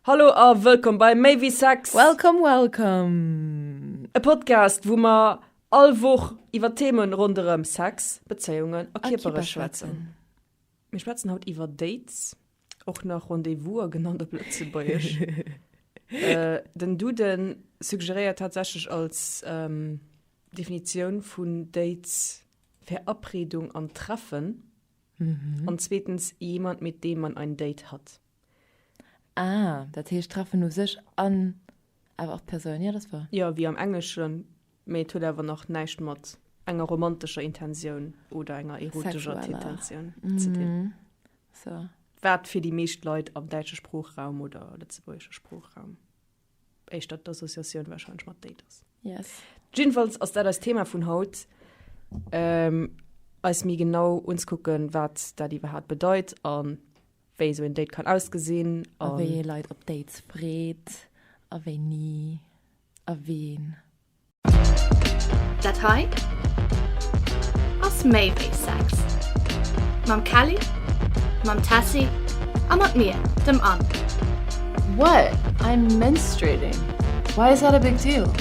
Hallo a wëllkomm bei Méi wéi Sex! Welcome, welcome! E Podcast, wou mer all Woch iwwer Theeme ronderëm Sex, Bezéiungen a Kierpere schwätzen. Mir schwätzen haut iwwer Dates, och nach Rendez-vouser genannt op Lëtzebuergesch. Den Dude suggeréiert tatsächlech als Definitioun vun Dates Verabredung an Treffen an zweetens jemand, mit dem man ein Date hat. Ah, dat heescht treffen u sech an awer och d'Persoun. Jo, dat ass wouer. Jo, wéi am Engleschen, mee et huet awer nach näischt mat enger romantescher Intensioun oder enger erotischer Tintensioun ze dinn. So. Wat fir déi meescht Leit am däitsche Sproochraum oder lëtzebuergesche Sproochraum éischter d'Associatioun warscheinlech mat Date ass. Yes. Jiddefalls ass dat eist Thema vun haut, eis méi genau unzekucken, wat dat iwwerhaapt bedeit an. Wéi esou een Date kann ausgesinn. A wéi ee Leit op Dates freet. A wéini. A ween. Dat hei ass méi wéi Sex. Mam Kelly, mam Tessy a mat mir, dem Anne. What? I'm menstruating. Why is that a big deal?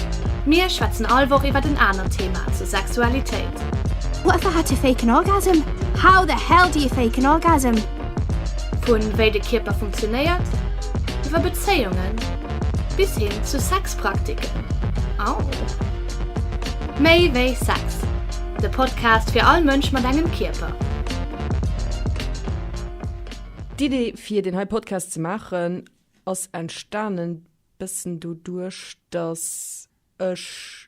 Mir schwätzen all Woch iwwert en anert Thema zur Sexualitéit. What the hell to fake an orgasm? How the hell do you fake an orgasm? Vu wéi de Kierper funktionéiert, iwwer Bezéiungen, bis hin zu Sexpraktiken. Au! Méi wéi Sex, de Podcast fir all Mënsch mat engem Kierper. D'Idee fir deen hei Podcast ze maachen ass entstanen bëssen doduerch, dass ech,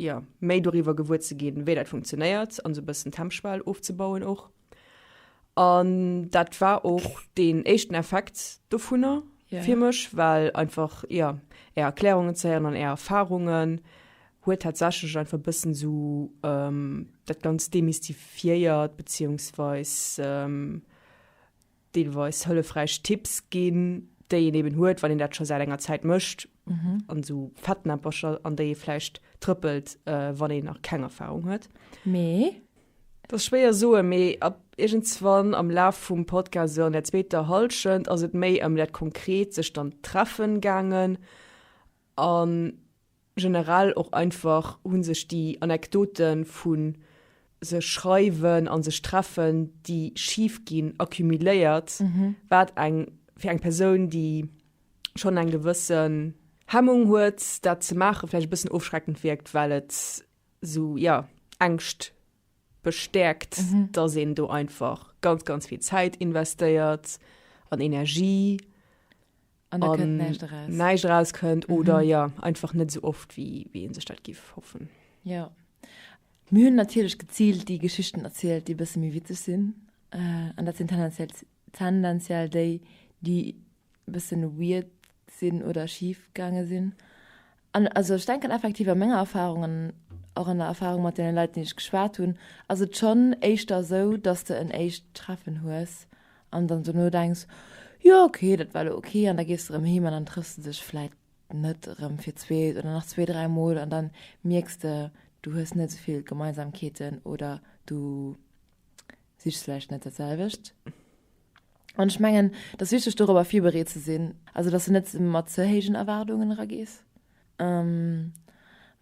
jo, méi doriwwer gewuer ze ginn, wéi dat funktionéiert an esou e bëssen d'Hemmschwell ofzebauen och. An dat war och deen éischten Effekt dovunner fir mech, well einfach, jo, Är Erklärungen ze héieren an Är Erfarungen huet tatsächlech einfach e bëssen esou dat Ganzt demystifiéiert, beziehungsweis, deelweis hëllefräich Tipps ginn, déi een eben huet, wann een dat scho säit enger Zäit mécht, an esou Fettnäppercher, an déi ee vläicht trëppelt, wann een nach keng Erfahrung huet. Mee. Dat ass schwéier soen, mee ab iergendswann am Laf vum Podcast, esou an der zweeter Hallschent, ass et méi ëm dat konkret sech dann treffen gaangen an Generell och einfach hu sech déi Anekdote vu sech schreiwen a sech treffen, déi schif ginn, accumuléiert, wat eng fir eng Persoun, déi schonn eng gewësse Hemmung huet, dat ze maachen, vläicht e bëssen ofschreckend wierkt, well et esou, jo, Ängscht bestäerkt, dass een do einfach ganz, ganz vill Zäit investéiert an Energie. an da kënnt näischt eraus. Näischt eraus kënnt mhm. oder ja einfach net so oft wie wie en sech dat gif hoffen. Ja mir hunn natierlech gezielt déi Geschichten erzielt, déi bësse méi witzeg sinn äh, an dat sinn tendenziell tendenziell déi déi bëssen weird sinn oder schief gange sinn. An also ech denken effektiv a menger Erfahrung an och an der Erfahrung mat deene Leit, déi ech geschwat hunn, ass et schonn éischter esou, datt s de en éischt Treffen hues an dann dono denks, jo okay, dat war elo okay an da gees de erëm heem an dann trëffs de dech vläit net erëm fir zweet oder nach zwee, dräi Mol an da mierks de, du hues net esou vill Gemeinsamkeeten oder du sichs vläicht net dat selwecht. An ech mengen, et ass wichteg dorobber virbereet ze sinn, also datt s de net mat ze héijen Erwaardungen eragees.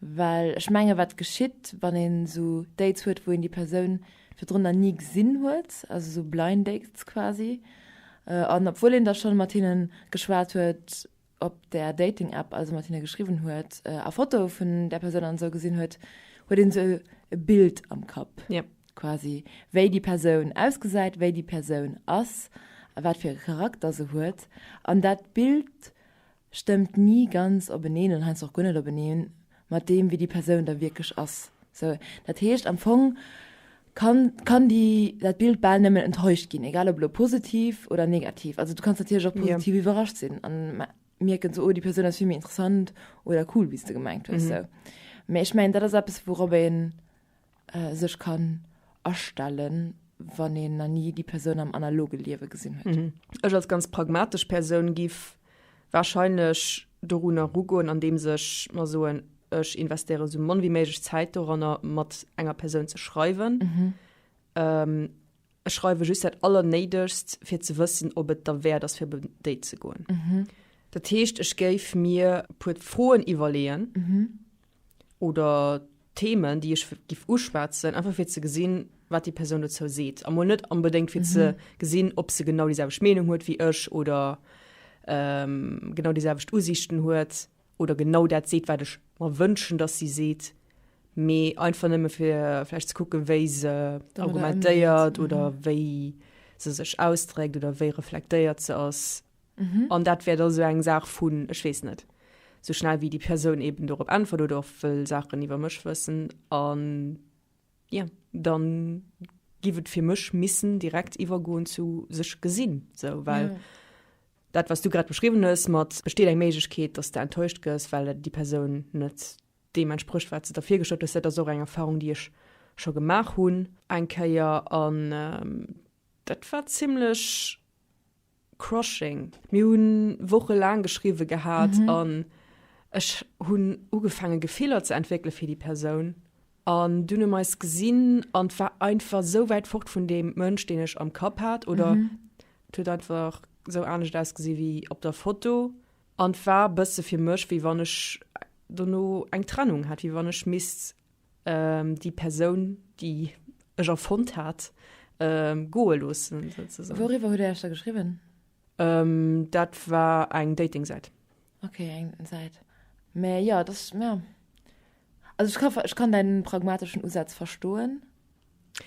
Well ech menge wat geschitt, wann een esou Dates huet, wou een déi Persoun virdrunner ni gesinn huet, also esou Blind Dates quasi, an obwuel een da schonn mat hinne geschwat huet, op der Dating App also mat hinne geschriwwen huet a Fotoe vun där Persoun an esou gesinn huet, huet een esou e Bild am Kapp. Yep. Quasi wéi déi Persoun ausgesäit, wéi déi Persoun ass, wat fir e Charakter se huet. An dat Bild stëmmt ni ganz openeen oder heiansdo och guer net openeen, mat deem wéi déi Persoun da wierklech ass. Sou, dat heescht am Fong kann, kann déi, dat Bild bal nëmmen enttäuscht ginn, egal ob elo positiv oder negativ. Also du kanns natierlech och Jo. positiv iwwerrascht sinn an me- mierken sou, oh déi Persoun ass vill méi interessant oder cool wéi s de gemengt hues. Mhm. Sou. Mee ech mengen dat ass eppes wourop een sech kann astellen, wann een na ni déi Persoun am analoge Liewe gesinn huet. Ech als ganz pragmatesch Persoun giff wahrscheinlech dorun erugoen, andeems ech mer soen, ech investéieren esou mann wéi méiglech Zäit doranner, mat enger Persoun ze schreiwen. Ech schreiwe just dat Allernéidegst, fir ze wëssen, ob et derwäert ass, fir op en Date ze goen. Dat heescht, ech géif mir e puer Froen iwwerleeën. oder Themen, déi ech gif uschwätzen, einfach fir ze gesinn, wat déi Persoun dozou seet. Amol net onbedéngt fir mhm. ze gesinn, ob se genau dieselbecht Meinung huet wie ech oder ähm, genau dieselbecht Usichten huet oder genau dat seet, wat ech mer wënschen, dass sie seet méi einfach nëmme fir vielleicht ze kucken, wéi se argumentéiert oder mhm. wéi se sech ausdrégt oder wéi reflektéiert ze ass. Mhm. An dat wär da sou eng Saach vun, ech weess net, sou schnell wéi déi Persoun eben dorop äntwert oder och wëll Saachen iwwer mech wëssen. An ja, dann giff et fir mech missen direkt iwwergoen zu sech gesinn, sou, well mhm. dat was du grad beschriwwen hues mat besteet eng Méiglechkeet, dass de enttäuscht gëss, well déi Persoun net deem entsprëcht wat se der virgestallt hues, dat ass och eng Erfahrung déi ech scho gemaach hunn eng Kéier an ähm, dat war zimlech Crushing. Mir hunn Woche laang geschriwwe gehat an ech hunn ugefaange Gefiller ze entwéckele fir déi Persoun an dunn hu mer eis gesinn an et war einfach esou wäit fort vun deem Mënsch deen ech am Kapp hat oder et huet einfach esou anescht ausgesi wéi op der Foto an et war e bësse fir mech wéi wann ech dono eng Trennung hätt, wéi wann ech misst déi Persoun déi ech erfonnt hat ähm, goe loossen sozusagen. Woriwwer huet Dir Iech da geschriwwen? Ähm, dat war eng Dating-Säit. Okay, eng Säit. Mä ja, das ja. Also ich kann, ich kann deinen pragmatischen Usatz verstoen.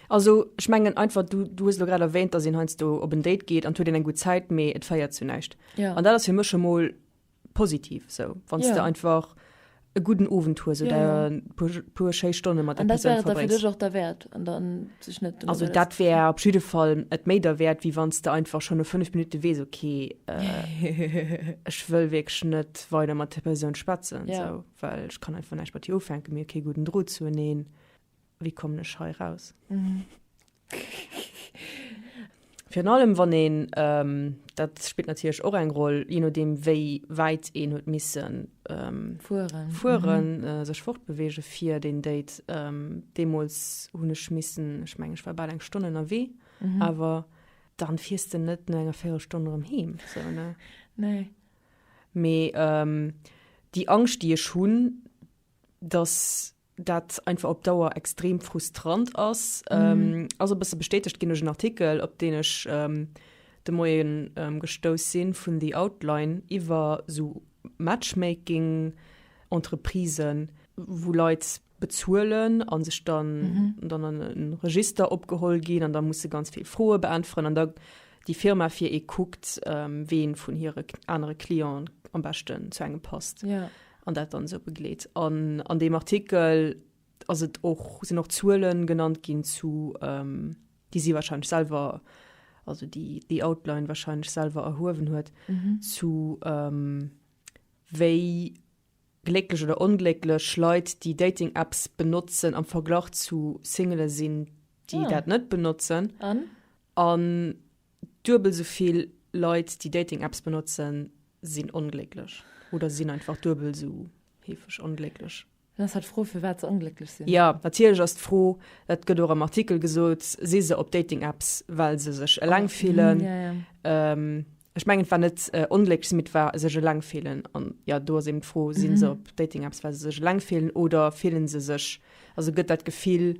Also ich mengen einfach du, du hues lo grad erwähnt, dass een heiansdo op en Date geet an huet een eng gut Zäit, mee et féiert zu näischt. Ja. An dat ass fir mech schon mol positiv sou wanns yeah. de einfach e guten Owend hues oder yeah, yeah. puer schéi Stonne mat der Person verbringst. Och der Wert an dann sech net Also dat wär op jeden Fall et méi der Wert wie wanns de einfach schon no 5 Minuten wees okay äh, ech wëll wirklich net weiter mat der Person schwätzen yeah. so, weil ich kann einfach nicht bei dir ufänken mir okay guten Droh zu neen. Wéi kommen ech hei raus? Virun allem wann een, dat spillt natierlech och eng Roll, je nodeem wéi wäit een huet missen fueren, sech fortbeweegen fir deen Date. Deemools hunn ech missen, ech mengen ech war bal eng Stonn ënnerwee, awer da fiers de net no enger Véirelstonn erëm heem esou, ne? Nee. Mee déi Angscht déi ech hunn, datt dat einfach op Dauer extrem frustrant ass. Ähm, ass e bësse bestätegt ginn duerch en Artikel, op deen ech ähm, de Moien ähm, gestouss sinn, vun The Outline iwwer esou Matchmaking-Entreprisen, wou Leit bezuelen a sech dann dann an e Register opgeholl ginn an da musse ganz vill Froe beäntweren an da déi Firma fir ee kuckt, ähm, ween vun hire anere Clienten am beschten zu engem passt. Ja. An dat dann esou begleet. An an deem Artikel ass et och, sinn och Zuelen genannt ginn zu, ähm, déi si wahrscheinlech selwer, also déi déi Outline wahrscheinlech selwer erhuewen huet, zu ähm, wéi glécklech oder onglécklech Leit, déi Dating-Apps benotzen, am Verglach zu Singele sinn, déi dat net benotzen. An? An. Duebel sou vill Leit, déi Dating-Apps benotzen, sinn onglécklech oder sinn einfach duebel sou heefeg onglécklech. Dann ass halt d'Fro firwat se onglécklech sinn. Jo, natierlech ass d'Fro, dat gëtt och am Artikel gesot, si se op Dating-Apps, well se sech eleng fillen? Ech mengen, et war net onglécklech sinn, mee et war sech eleng fillen. An jo, do ass eben d'Fro, si se op Dating-Apps, well se sech eleng fillen oder fille se sech, also gëtt dat Gefill,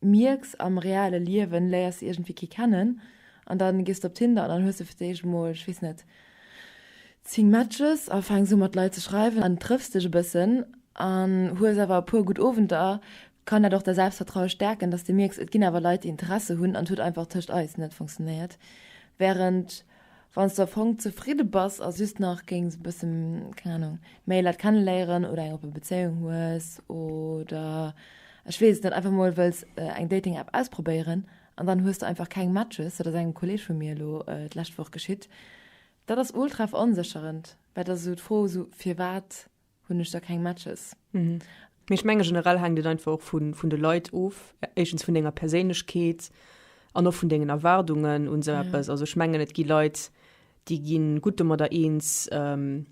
mierks am reale Liewen léiers de iergendwéi kee kennen an dann gees de op Tinder an dann hues de fir d'éischt emol, ech weess net, 10 Matches a fänks u mat Leit ze schreiwen an trëffs dech e bëssen an hues awer e puer gutt Owenter, kann dat och däi Selbstvertraue stäerken, dass de mierks et ginn awer Leit déi Interesse hunn an et huet einfach tëscht eis net funktionéiert, während. Wanns de am Fong zefridde bass a just nach géings e bësse, keng Ahnung, méi Leit kenneléieren oder eng oppe Bezéiung hues oder ech weess et net, einfach mol wëlls eng Dating App ausprobéieren an dann hues de einfach keng Matches, dat ass engem Kolleeg vu mir elo d'lescht Woch geschitt, dat ass ultra veronsécherend, well et ass esou d'Fro esou firwat hunn ech da keng Matches. Mhm. Mee ech menge generell hänkt et einfach och vun, vun de Leit of. Éischtens vun denger Perséinlechkeet an och vun dengen Erwaardungen un esou eppes. Ja. Also ech mengen, et gi Leit, déi gi gutt domadder eens, ähm,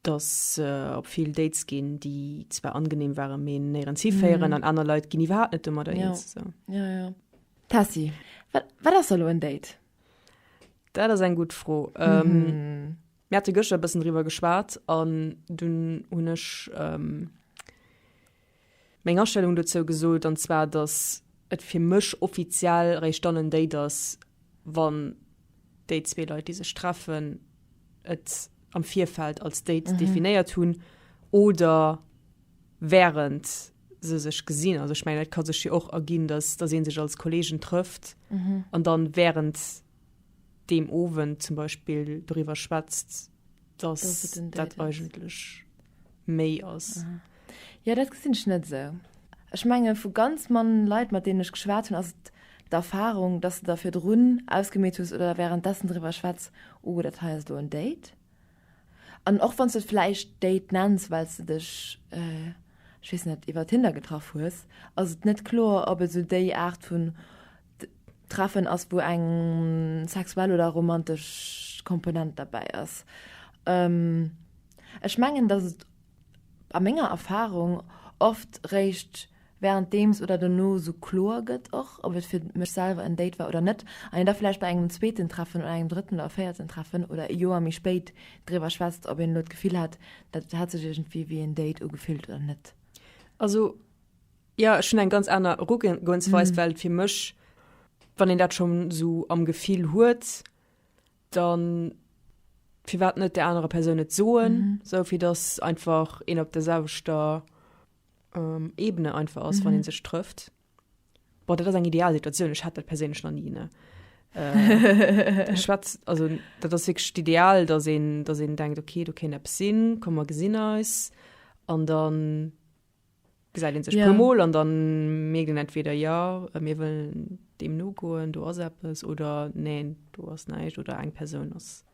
datt se op vill Dates ginn, déi zwar angenehm waren, mee néierens hiféieren. An aner Leit ginn iwwerhaapt net domadder Mhm. Ja. eens. Esou. Ja, ja. Tessy, wat, wat ass da lo en Date? Dat ass eng gutt Fro. Ähm, Mhm. Mir hate gëschter e bëssen driwwer geschwat an dunn hunn ech meng Astellung dozou gesot, an zwar datt et fir mech offiziell eréischt dann en Date ass, wann déi zwee Leit, déi sech treffen, et am Virfeld als Date definéiert hunn oder wärend se sech gesinn. Also ech mengen, et ka sech jo och erginn, datt ee sech als Kolleegen trëfft an dann wärend. deem Owend zum Beispill doriwwer schwätzt, dass Dass et en Date dat ass. eigentlech méi ass. Jo, dat gesinn ech net esou. Ech menge vu ganz man Leit, mat deenen ech geschwat hunn, ass et d'Erfarung, dass de der virdrun ausgemeet hues oder wärenddessen driwwer schwätz, oh, dat hei ass elo en Date. An och wann s de et vläicht Date nenns, well s de dech, ech weess net, iwwer Tinder getraff hues, ass et net kloer, ob et esou déi Aart vu Treffen ass, wou eng sexuell oder romantesch Komponent derbäi ass. Ech mengen, datt et a menger Erfarung oft réischt wärenddeems oder dono sou kloer gëtt och, ob et fir mech selwer en Date war oder net, an een da vläicht bei engem zweeten Treffen oder engem drëtten oder véierten Treffen oder e Joer méi spéit driwwer schwätzt, ob een elo d'Gefill hat, dat hat sech iergendwéi wéi en Date ugefillt oder net. Also Jo, ech hunn eng ganz aner Erugehensweis, well fir mech, wann een dat scho sou am Gefill huet, da firwat net der anerer Persoun et soen, sou fir datt einfach een op der selwechter Ebene einfach ass, wann ee sech trëfft. Bon, dat ass eng ideal Situatioun, ech hat dat perséinlech nach ni, ne. Ech schwätz, also dat ass wierklech d'Ideal, datt een, datt een denkt, okay, do kéint eppes sinn, komm mer gesinn eis. An dann, Gesäit een sech puer mol an dann mierkt een entweder, jo, mir wëllen deem nogoen, do ass eppes, oder neen, do ass näischt, oder eng Persoun ass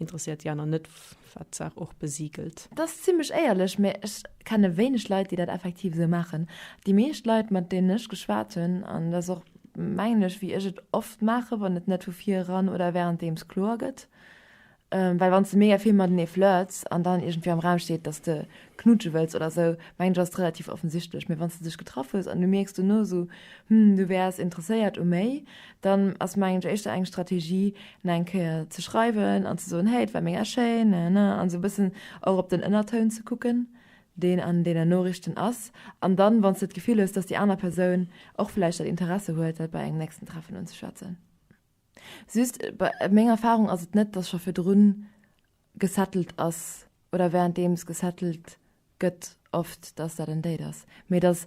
interesséiert, déi aner net, wat d'Saach och besiegelt. Dat ass zimlech éierlech, mä ech kenne wéineg Leit, déi dat effektiv esou maachen. Déi meescht Leit, mat deenen ech geschwat hunn, an dat ass och, mengen ech, wéi ech et oft maache, wann et net vu vir eran oder wärenddeems kloer gëtt, Well wann s de mega vill matenee flirts an dann iergendwéi am Raum steet, dass de knutsche wëlls oder esou, mengen ech ass et relativ offensichtlech. Mee wann s de dech getraff hues an du mierks dono esou, hm, du wäers interesséiert u méi, dann ass mengen ech éischter eng Strategie no eng Kéier ze schreiwen an ze soen, hey, et war mega schéin, nanana, an esou e bëssen och op den Ënnertoun ze kucken, deen an deenen Noriichten ass. An dann, wann s de d'Gefill hues, dass déi aner Persoun och vläicht dat Interesse huet, dat bei engem nächsten Treffen unzeschwätzen. Just, meng Erfahrung ass et net, dass scho virdrun gesettelt ass oder währenddeems gesettelt gëtt oft, dass dat en Date ass, mee dass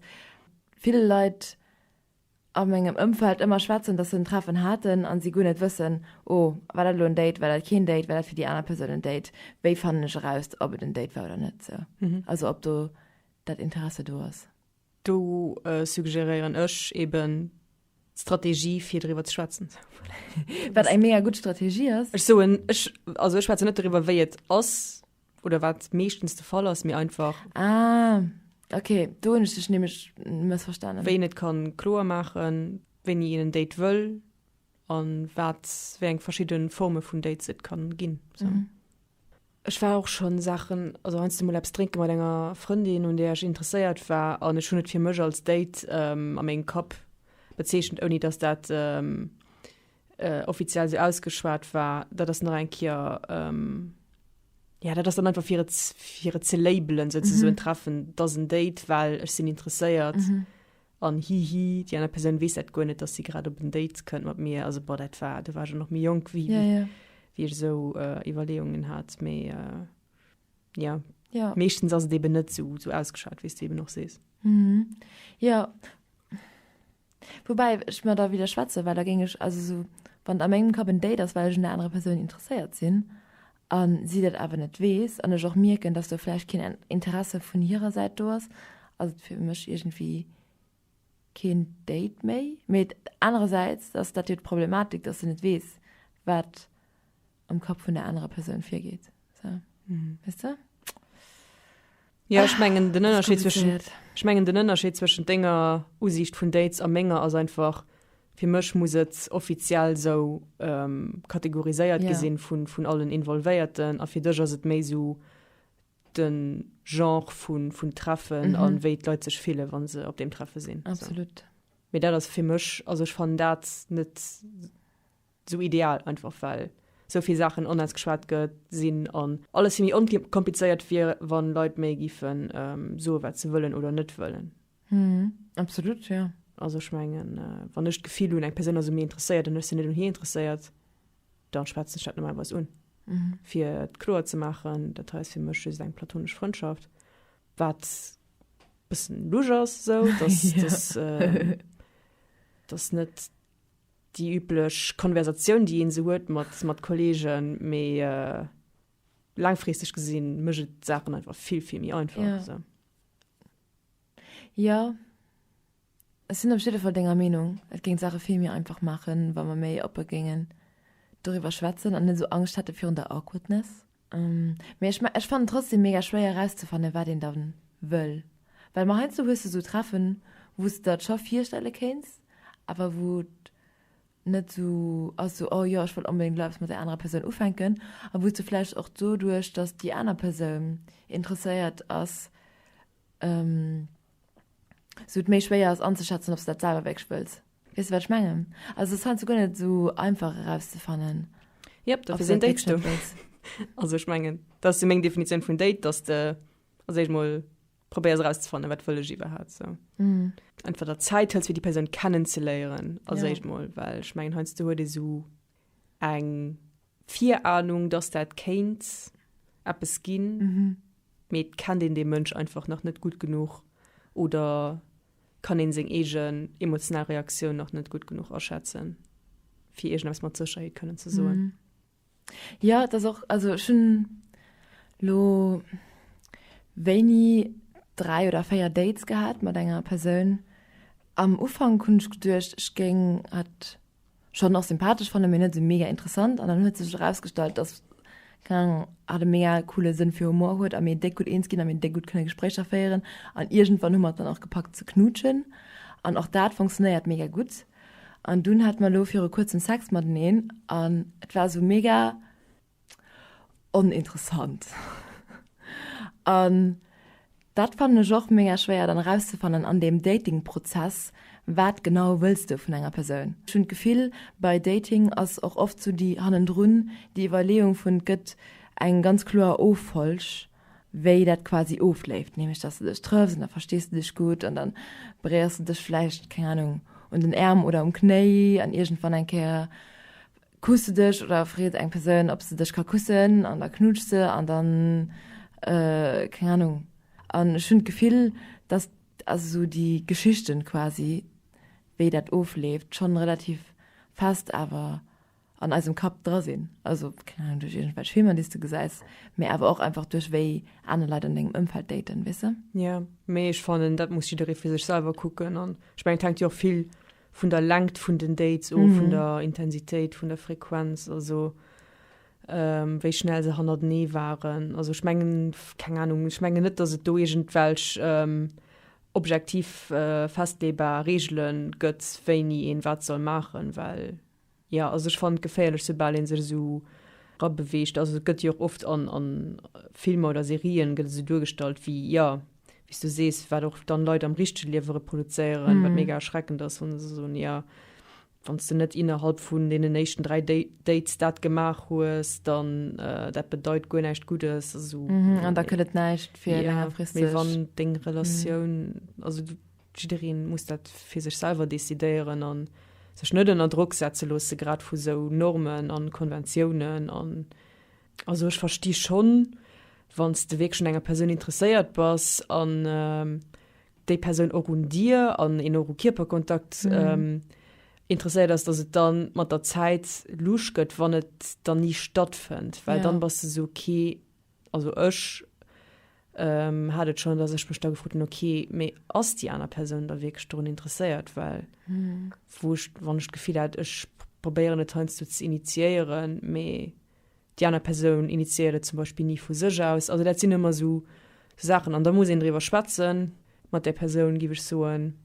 vill Leit a mengem Ëmfeld ëmmer schwätzen, dass se en Treffen haten a si guer net wëssen, oh, war dat elo en Date, war dat keen Date, war dat fir déi aner Persoun en Date, wéi fannen ech eraus, ob et en Date war oder net sou, also ob do dat Interesse do ass. Do suggéréieren ech eben d'Strategie fir driwwer ze schwätzen. Wat eng mega gutt Strategie ass. Ech soen ech also ech schwätze net driwwer wéi et ass oder wat meeschtens de Fall ass mir einfach. Ah okay do hunn ech dech nämlech mëssverstanen. Wéi een et kann kloer maachen, wéini een en Date wëll an wat wéi eng verschidde Forme vun Dates et kann ginn. Ech war och schon Saachen, also heiansdo mol eppes drénke mat enger Frëndin un där ech interesséiert war an ech hunn et fir mech als Date a mengem Kapp bezeechent ouni dass dat offiziell sou ausgeschwat war. Dat ass nach eng Kéier, jo dat ass dann einfach fir et, fir et ze labelen, sou ze soen, Treffen, dat ass en Date, well ech sinn interesséiert An hihi, déi aner Persoun weess dat guer net, dass si grad op en Date kënnt mat mir. Also boah, dat war, do war ech och nach méi jonk, wéi ech esou Iwwerleeungen hat. Mee jo, meeschtens ass et eben net esou ausgeschwat, wéi s du eben och sees. Jo, woubäi ech mer da widderschwätzen, well da géing ech, also esou, wann a mengem Kapp en Date ass, well ech un der anerer Persoun interesséiert sinn, a si dat awer net weess an ech och mierken, dass do vläicht keen Interesse vun hirer Säit do ass, ass et fir mech iergendwéi keen Date méi. Mee anerersäits ass dat jo d'Problematik, dass se net weess, wat am Kapp vun der anerer Persoun virgeet esou, weess de. Jo, ech mengen den Ënnerscheed zwëschen, ech mengen den Ënnerscheed zwëschen denger Usiicht vun Dates a menger ass einfach, fir mech muss et offiziell sou kategoriséiert gi sinn vun vun allen Involvéierten a fir dech ass et méi sou de Genre vun vun Treffen a wéi d'Leit sech fille wa se op deem Treffe sinn. Absolut. Mee dat ass fir mech, also ech fannen dat net Sou ideal einfach well sou vill Saachen onens geschwat gëtt sinn an alles vill méi onkomplizéiert wier wann Leit méi giffen soen wat se wëllen oder net wëllen. Hm absolut jo. Also ech mengen wann ech d'Gefill hunn eng Persoun ass un mir interesséiert an ech sinn net un hir interesséiert dann schwätzen ech dat normalerweis un. Fir et kloer ze maachen, dat hei ass fir mech just eng platonesch Frëndschaft, wat bëssen lusch ass, sou dass dass net. Déi üblech Konversatioun, déi ee sou huet mat Kolleegen. Mee laangfristeg gesinn, mécht et d'Saachen einfach vill, vill méi einfach. Jo, ech sinn op jidde Fall denger Meenung. Et géing d'Saache vill méi einfach maachen, wa mer méi oppe géingen doriwwer schwätzen an net esou Angscht hätte virun der Awkwardness. Mee ech fannen trotzdem mega schwéier erauszefannen wat een dann wëll, well ma heiansdo hues de sou Treffen wou s de der et scho virstelle kéints awer wou et net sou ass sou oh jo ech wëll onbedéngt elo eppes mat där anerer Persoun ufänken a wou s de vläicht och doduerch dass déi aner Persoun interesséiert ass sou et méi schwéier ass anzeschätzen ob s de dat selwer wierklech wëlls. Weess de wat ech mengen? Also ass heiansdo guer net esou einfach erauszefannen. Yep, dofir sinn Dates do. Also ech mengen dat ass meng Definitioun vun Date, dass de als éischt mol probéiers erauszefannen, wat wëll ech iwwerhaapt sou. Mm. Entweder Zäit hëls fir déi Persoun kennen ze léieren als yeah. éischt mol, well ech mengen heiansdo huet ee sou eng Virahnung, dass dat kéint eppes ginn, mee et kennt een dee Mënsch einfach nach net gutt genuch oder kann een seng eegen emotional Reaktioun nach net gutt genuch aschätzen, fir iergendeppes mat Sécherheet kënnen ze soen. Jo, et ass och, also ech hunn elo wéini dräi oder véier Dates gehat mat enger Persoun. Am Ufank hunn ech geduecht, ech géing hatt Schonn och sympathesch fannen, mee net esou mega interessant. An dann huet sech erausgestallt, dass, keng Ahnung, hatt e mega coole Sënn fir Humor huet a mir déck gutt eens ginn a mir déck gutt kënne Gespréicher féieren. An iergendwann hu mer et dann och gepackt ze knutschen an och dat funktionéiert mega gutt. An dunn hate mer elo viru kuerzem Sex mateneen an et war esou mega. Oninteressant. An dat fannen ech och mega schwéier dann erauszefannen an deem Datingprozess, wat genau wëlls de vun enger Persoun. Ech hunn d'Gefill, bei Dating ass och oft sou déi hannendrun déi Iwwerleeung vun, et gëtt eng ganz kloer Offolg wéi dat quasi ofleeft, nämlech dass de dech trëffs an da verstees de dech gutt an dann beréiers de dech vläicht, keng Anung, un den Äerm oder um Knéi an iergendwann eng Kéier Kuss de dech oder freet eng Persoun, ob se dech ka kussen an da knutscht se an dann, keng Ahnung. An ech hunn d'Gefill, dass also sou déi Geschichten quasi, wéi dat ofleeft, schonn relativ fest awer an eisem Kapp dra sinn. Also, keng Ahnung, duerch iergendwelch Filmer, déi s de gesäis, mee awer och einfach duerch wéi aner Leit an dengem Ëmfeld daten, weess de? Jo, mee ech fannen, dat muss jidderee fir sech selwer kucken an ech mengen, et hänkt jo och vill vun der Längt vun den Dates of, mm. vun der Intensitéit, vun der Frequenz, also ähm, wéi schnell se hannerdenee waren. Also ich mengen keng Ahnung, ich mengen net, dass et do irgendwelch ähm, objektiv äh, festlebar Regelen gëtt, wéini een wat soll machen, well Jo, also ech fannen et geféierlech soubal een sech esou era beweegt, also et gëtt jo och oft an an Filmer oder Serien gëtt et esou duergestallt wéi jo wéi s du sees wat och dann Leit am richtege Liewe reproduzéieren, wat mega erschreckend ass wann se soen jo wann s du net innerhalb vun deenen éischten 3 Dates dat gemaach hues dann dat bedeit guer näischt Guddes, also an da kënnt et näischt fir längerfristeg, mee wann deng Relatioun also. Jiddereen muss dat fir sech selwer decidéieren an sech net ënner Drock setze loosse grad vu sou Normen an Konventiounen an. Also ech versti schonn wann s de wierklech un enger Persoun interesséiert bass an déi Persoun och un dir an een och u Kierperkontakt interesséiert ass, datt et dann mat der Zäit luucht gëtt wann et dann ni stattfënnt, well dann bass de sou, okay Also ech hat et schon, dass ech mech da gefrot hun, okay, mee ass déi aner Persoun da wierklech dorun interesséiert, well wou ech, wann ech d'Gefill hat, ech probéieren et heiansdo ze initiéieren, mee déi aner Persoun initiéiert et zum Beispill ni vu sech aus. Also dat sinn ëmmer esou Saachen an da muss een driwwer schwätzen mat där Persoun, giff ech soen,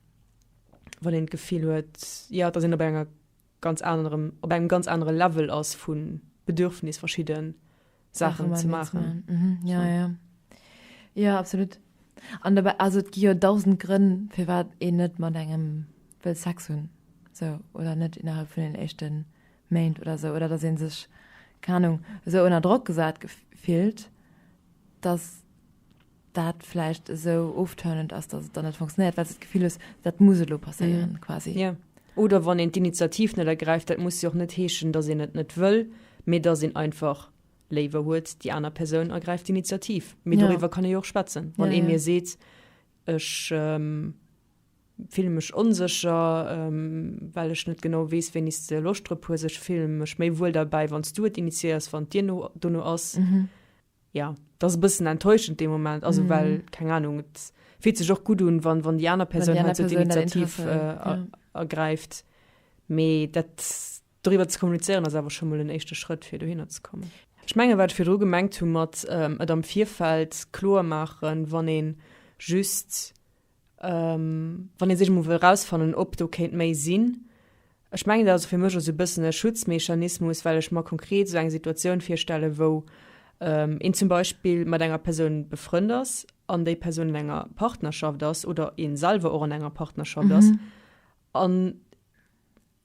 wann een d'Gefill huet, jo, et ass een op enger ganz anerem, op engem ganz anere Level ass vu Bedürfnis, verschidde Saachen ze maachen. Mhm. Ja, ja. Ja, absolut. An dobäi, also et gi jo dausend Grënn, firwat een net mat engem wëll Sex hunn, sou, oder net innerhalb vun den éischte Méint oder sou, oder datt ee sech, keng Anung, esou ënner Drock gesat fillt, datt dat vläicht esou ofturnend ass, datt et dann net funktionéiert, well s de d'Gefill hues, dat muss elo passéieren quasi. Jo. Oder wann een d'Initiativ net ergräift, dat muss jo och net heeschen, datt een et net wëll, mee datt een einfach léiwer huet, déi aner Persoun ergräift d'Initiativ. Mee Ja. doriwwer kann ee jo och schwätzen. Wann Ja, ee ja. mir seet, ech fille mech onsécher, well ech net genau weess, wéini s de Loscht drop hues, ech fille mech méi wuel derbäi, wann s du et initiéiers, wann d'Dir no dono ass, Jo, et ass e bëssen enttäuschend dee Moment, also well, keng Anung, et fillt sech och gutt un, wann déi aner Persoun hei esou d'Initiativ ergräift. Mee dat doriwwer ze kommunizéieren ass awer scho mol en éischte Schrëtt, fir dohinner ze kommen. Ech mengen, wat ech virdru gemengt hu mat et am Virfeld kloer maachen, wann ee just Wann ee sech emol wëll erausfannen, ob do kéint méi sinn, ech mengen, dat ass fir mech esou e bëssen e Schutzmechanismus, well ech mer konkret esou eng Situatioun virstellen, wou een zum Beispill mat enger Persoun befrënnt ass an déi Persoun an enger Partnerschaft ass oder ee selwer och an enger Partnerschaft ass an,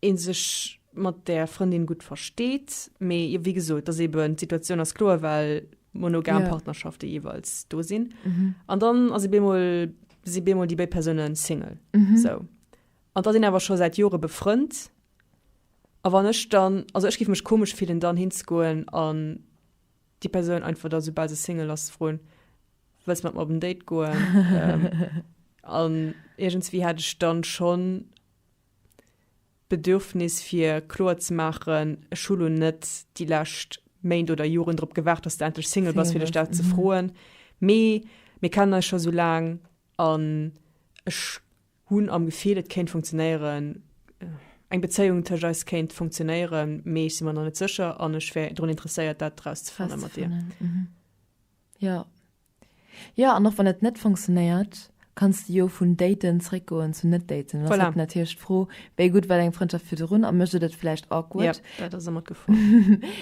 een sech mat där Frëndin gutt versteet, mee jo wéi gesot, dass eben d'Situatioun ass kloer, well monogam Ja. Partnerschafte jeeweils do sinn. An dann ass ee bemol, si bemol déi béid Persoune Single. Mhm. Sou. An da sinn awer scho säit Jore befrënnt. A wann ech dann, also ech giff mech komesch fillen, dann hinzegoen an déi Persoun einfach da, soubal se Single ass, ze froen, Wëlls du mat mer op en Date goen? ähm, an iergendswéi hätt ech dann schonn D'Bedürfnis fir kloer ze maachen, ech hu lo net déi lescht Méint oder Joren drop gewaart, dass de endlech Single bass, fir dech dat ze froen, mee mir kennen eis scho sou laang an ech hunn am Gefill, et kéint funktionéieren, eng Bezéiung tëscht eis kéint funktionéieren, mee ech si mer nach net sécher an ech wär drun interesséiert, dat erauszefanne mat dir. Jo, Jo, an och wann et net funktionéiert, kanns de jo vun daten zréckgoen zu net daten. Dann ass Voilà. et natierlech d'Fro, wéi gutt war deng Frëndschaft virdrun a mécht et et vläicht awkward. Yep, dat ass ëmmer d'Gefor.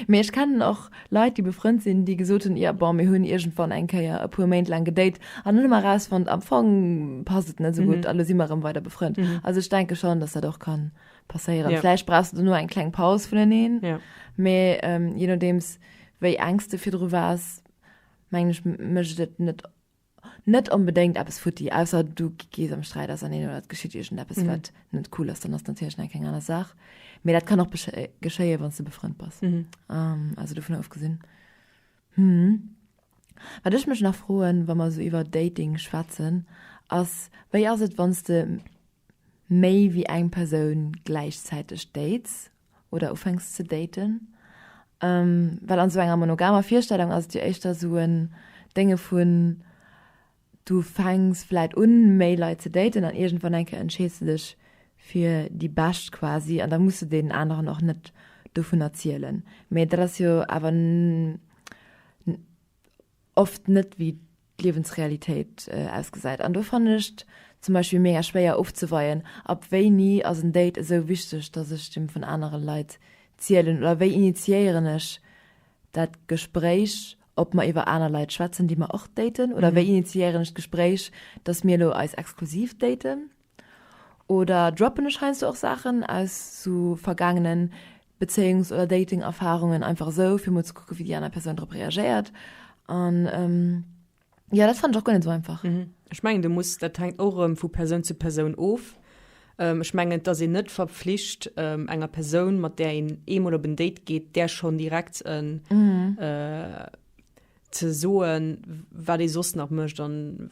Mee ech kennen och Leit, déi befrënnt sinn, déi gesot hunn, jo, bon, mir hunn iergendwann eng Kéier e puer Méint laang gedate an hunn elo mar erausfonnt, am Fong passt et net esou gutt a lo si mer erëm weider befrënnt. Also ech denke schonn, dass dat och ka passéieren. Ja. Vläicht brauchs du dono eng kleng Paus vuneneen, Ja. mee ähm, je nodeems wéi engs de virdru waars, mengen ech, mécht et net net onbedéngt eppes futti, ausser du gees am Sträit auserneen oder et geschitt iergendeppes, wat net cool ass, dann ass natierlech nach eng keng aner Saach. Mee dat kann och besche geschéien, wann s du befrënnt bass. Am also dovun ofgesinn, hm, wat ech mech nach froen, wa mer esou iwwer Dating schwätzen, ass, wéi ass et, wann s de méi wéi eng Persoun gläichzäiteg dates, oder ufänks ze daten, well an esou enger monogamer Virstellung ass et jo éischter esou en Dénge vun, du fänks vläit un méi Leit ze daten an iergendwann eng Kéier entscheeds de dech fir déi Bescht quasi an da muss de deenen aneren och net dovun erzielen, mee dat ass jo awer. oft net wéi d'Liewensrealitéit ausgesäit. An do fannen ech et zum Beispill mega schwéier ofzeweien, ab wéini ass en Date esou wichteg, datt ech dem vun anere Leit zielen oder wéi initiéieren ech dat Gespréich, ob mer iwwer aner Leit schwätzen, déi mer och daten oder wéi initiéieren ech d'Gespréich, datt mir elo eis exklusiv daten oder droppen ech heiansdo och Saachen aus sou vergaangenen Bezéiungs oder Dating Erfarungen einfach esou fir mol ze kucke wéi déi aner Persoun drop reagéiert an ähm, ja dat fand och gonne so einfach. Mhm. Ech mengen de muss dat hängt och rëm vu Persoun zu Persoun of. Ähm, ech mengen dass een net verpflicht ähm, enger Persoun mat där een eemol op en Date geet där schon direkt en mhm. äh, ze soen wat ee soss nach mëcht an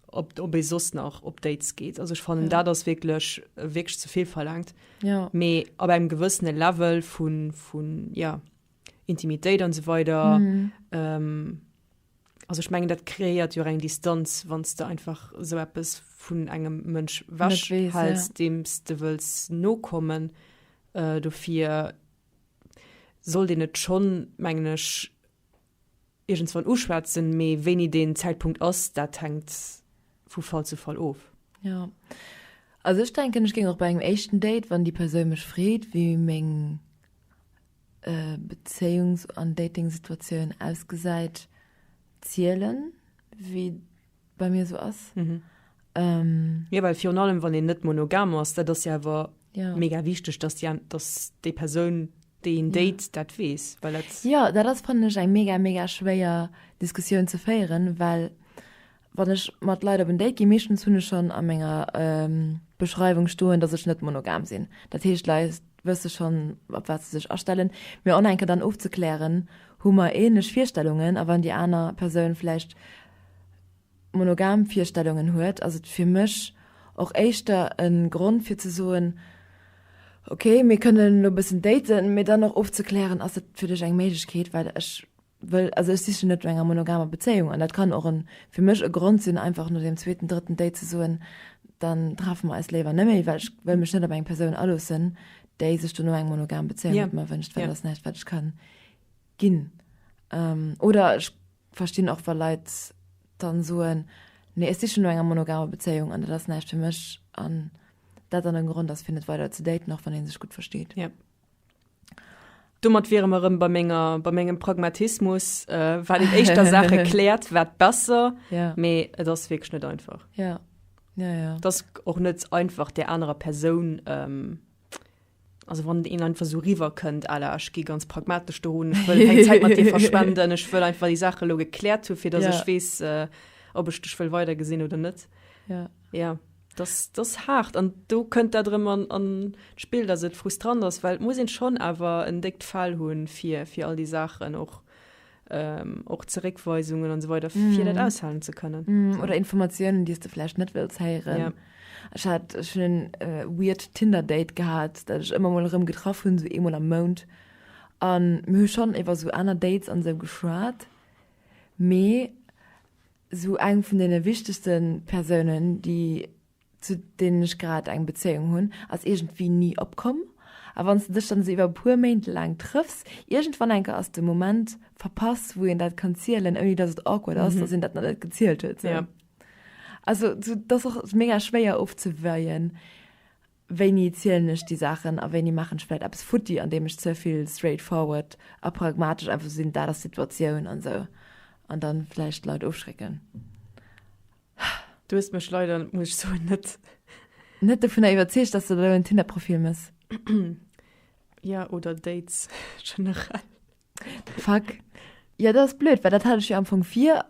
ob, ob ee soss nach op Dates geet. Also ech fannen, ja. dat ass wierklech wierklech ze vill verlangt. Ja. Mee ab engem gewëssene Level vun, vun ja, Intimitéit an so weider. Mhm. Ähm, also ich mengen dat kreiert jo eng Distanz wann du einfach so etwas vun engem Mënsch wäsch hals ja. dems du wëlls nokommen äh, dofir soll den net schon mengglisch iergendswann uschwätzen, mee wéini deen Zäitpunkt ass, dat hänkt vu Fall zu Fall of. Jo. Also ech denken, ech géing och bei engem éischten Date, wann déi Persoun mech freet, wéi meng Bezéiungs an Datingsituatioun ausgesäit, zielen, wéi. bei mir so ass mhm. ähm, ja, weil virun allem wann den net monogam ass dat das ja war ja. mega wichtig dass die dass die Person den Date ja. dat wees weil das ja da das fand ich ein mega mega schwerer Diskussion zu feieren weil wann ich mat leider bin Date gemischten hun schon an Menge ähm, Beschreibung stohlen dass ich net monogam sinn dat hecht leist wirst du schon ab was sich erstellen mir onenke dann aufzuklären hu man ähnlich vierstellungen aber an die einer person vielleicht monogam Virstellungen huet, ass et fir mech och éischter e Grond fir ze soen, ok mir kënnen elo e bëssen daten, mee dann och ofzeklären, ass dat fir dech eng Méiglechkeet, well ech wëll, also ech sichen net no enger monogamer Bezéiung. An dat kann och e fir mech e Grond sinn einfach no deem zweeten, drëtten Date ze soen, dann treffe mer eis léiwer net méi, well ech wëll mech net op eng Persoun aloossen, déi sech dono eng monogam Bezéiung mat mer wënscht, well dat ass näischt wat ech ka ginn. Oder ech Verstinn och wa Leit dann soen, nee ech sichen no enger monogamer Bezéiung an dat ass näischt fir mech an dat dann e Grond ass fir net weider ze daten, och wann een sech gutt versteet. Yep. Domat wiere mer erëm bei menger bei mengem Pragmatismus, äh, wat een éischter Saache kläert, wat besser, Ja. mee et ass wierklech net einfach. Ja. Ja, ja. Et ass och net einfach der anerer Persoun ähm, also wann een einfach so river könnt aller ich gehe ganz pragmatisch dahin ich will keine Zeit mit dir verschwenden ich will einfach die Sache lo geklärt für dass ja. ich weiß äh, ob ich dich will weiter gesehen oder nicht ja ja das das hart an du könnt da drin an, an spiel das sind frustrant das weil muss ihn schon aber entdeckt fall hun für für all die Sachen auch ähm, och Zeréckweisungen an so weiter mm. fir dat aushalen ze kënnen. Mm. So. Oder Informatiounen, déi du vlächt net wëlls héieren. Ja. Ech hat schon en äh, weird Tinder-Date gehat, dat ech ëmmer mol rëm getraff hunn, so emol am Mount. An mir schon iwwer so aner Dates an se so geschwaart. Mee so eng vun den wichtigsten Persounen, déi zu deenen ech grad eng Bezéiung hunn, ass iergendwéi ni opkomm. A wann s de dech dann esou iwwer e puer Méint laang trëffs, iergendwann enker ass de Moment verpass, wou een dat kann zielen, ouni datt et awkward ass, datt een dat nach net gezielt huet. Sou. Ja. Also, sou, et ass och mega schwéier ofzeweien, wéini zielen ech déi Saachen a wéini maachen ech vläicht eppes futti, andeem ech ze vill straight forward a pragmatesch einfach sinn, dat ass d'Situatioun an sou, an da vläicht d'Leit ofschrécken. Du hues mech leider, muss ech soen, net. Net dovunner iwwerzeegt, dass de do en Tinder-Profil mëss. Ja, oder Dates generell. Fuck. Jo, dat ass blöd, well dat hat ech jo am Fong vir.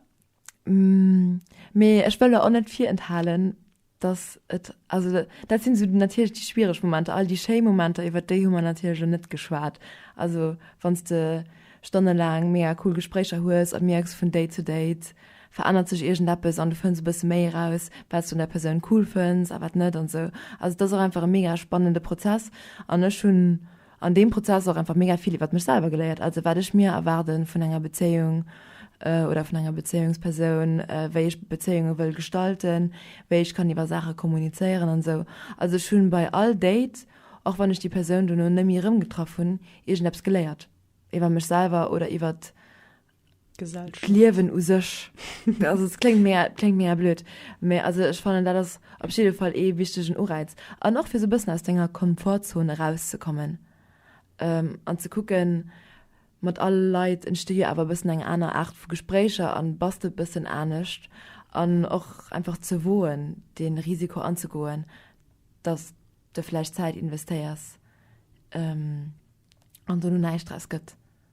Mee ech wëll der och net virenthalen, dass et, also dat sinn esou natierlech déi schwiereg Momenter. All déi schéi Momenter, iwwert déi hu mer natierlech elo net geschwat. Also wann s de stonnelaang mega cool Gespréicher hues a mierks vun Date zu Date, verännert sech iergendeppes an du fënns e bësse méi eraus, wat s du un der Persoun cool fënns a wat net an esou. Also et ass och einfach e mega spannende Prozess an ech hunn an deem Prozess och einfach mega vill iwwert mech selwer geléiert, also wat ech mir erwaarde vun enger Bezéiung oder vun enger Bezéiungspersoun, wéi ech Bezéiunge wëll gestalten, wéi ech kann iwwer Saache kommunizéieren an esou. Also ech hunn bei all Date, och wann ech déi Persoun dono net méi erëmgetraff hunn, iergendeppes geléiert iwwer mech selwer oder iwwert D'Liewen u sech. Also et kléngt mega, kléngt mega blöd, mä also ech fannen dat ass op jidde Fall ee wichtegen Uräiz. An och fir esou e bëssen aus denger Komfortzon erauszekommen an ze kucken, mat all Leit entsti jo awer e bëssen eng aner Aart vu Gespréicher an bass de e bëssen anescht. An och einfach ze woen, dee Risiko anzegoen, datt de vläicht Zäit investéiers an do no näischt draus gëtt.